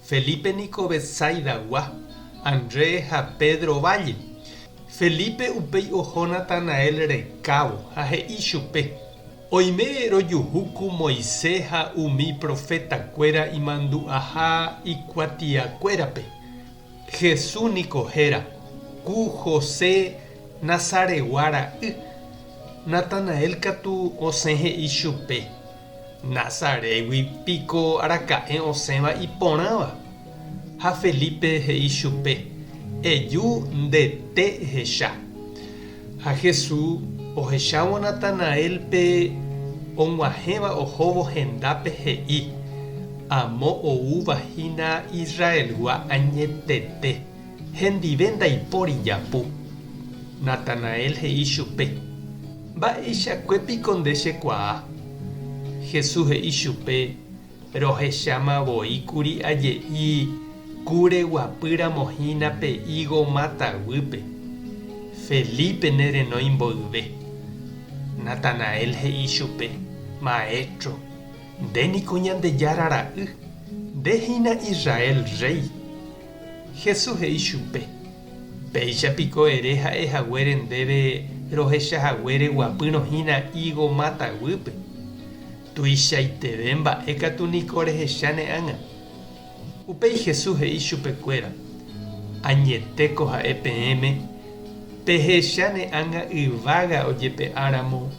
Felipe niko Betsaidagua, André ha Pedro válle. Felipe upéi oho Natanael rekávo ha he'i chupe, Oime rojuhu ku Moisés ha umi profetakuéra imandu'aha ikuatiakuérape. Jesús niko héra, ku José Nazaregua ra'y. Natanael katu osẽ he'i chupe, Nazarégui piko araka'e osẽva iporãva? Ha Felipe he'i chupe, Eju nde té ehecha. Ha Jesús, ohechávo Natanaélpe og̃uahẽva ohóvo hendápe, he'i, Amo oúva hína Israelgua añetete, hendive ndaipóri japu. Natanael he'i chupe, Mba'eichakue piko nde chekuaa? Jesús he'i chupe, Rohecháma voi kuri aje'i ku reguapy ramo hína pe higo máta guýpe. Felipe ne renói mboyve. Natanael he'i chupe, Maestro, nde niko Ñandejára Ra'y, nde hína Israel rréi. Jesús he'i chupe, Péicha piko ere ha'e haguére ndéve rohecha haguére guapýrõ hína higo máta guýpe? Tuichaiteve mba'e katu niko rehecha ne ág̃a. Upéi Jesús he'i chupe kuéra, Añete ko ha'e peẽme, pehecha ne ág̃a yvága ojepe'a ramo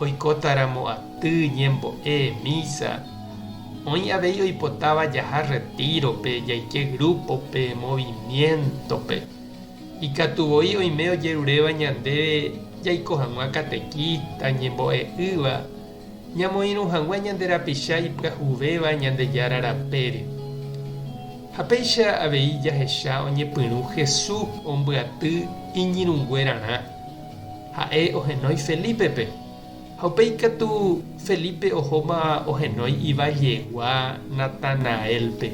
Oikótaramo aty, ñembo'e, mísa, oĩ avei oipotáva jaha rretírope, jaike grúpope, movimiéntope. Ikatu voi oime ojeruréva ñandéve jaiko hag̃ua katekísta, ñembo'e'ỹva, ñamoirũ hag̃ua ñande rapicha ipyahuvéva Ñandejára rapére. Ha péicha avei jahecha oñepyrũ Jesús ombyaty iñirũnguerarã. Ha'e ohenói Felípepe. Ha upéi katu Felípe ohóma ohenói ivajegua Natanaélpe,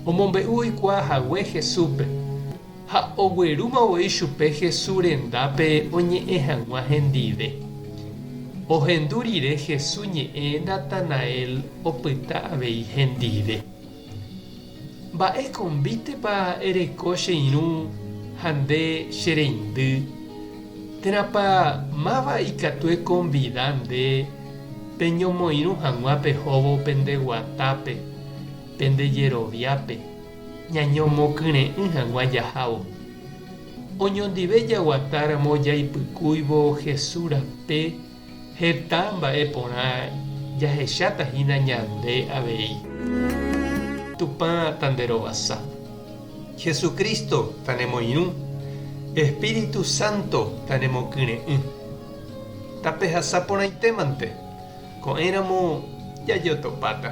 omombe'u oikuaa hague Jesúspe. Ha oguerúma voi chupe Jesús rendápe oñe'ẽ hag̃ua hendive. Ohendu rire Jesús ñe'ẽ Natanael opyta avei hendive. Mba'e konvítepa ereko che irũ ha nde che reindy? Térãpa máva ikatu ekonvida nde peñomoirũ hag̃ua pehóvo pende guatápe, pende jeroviápe, ñañomokyre'ỹ hag̃ua jahávo? Oñondive jaguatáramo jaipykúivo Jesús rape, Heta mba'e porã jahecháta hína ñande avei. Tupã tanderovasa. Jesucristo tanemoirũ. Espíritu Santo tanemokyre'ỹ. Tapehasa porãitémante, ko'ẽramo jajotopáta.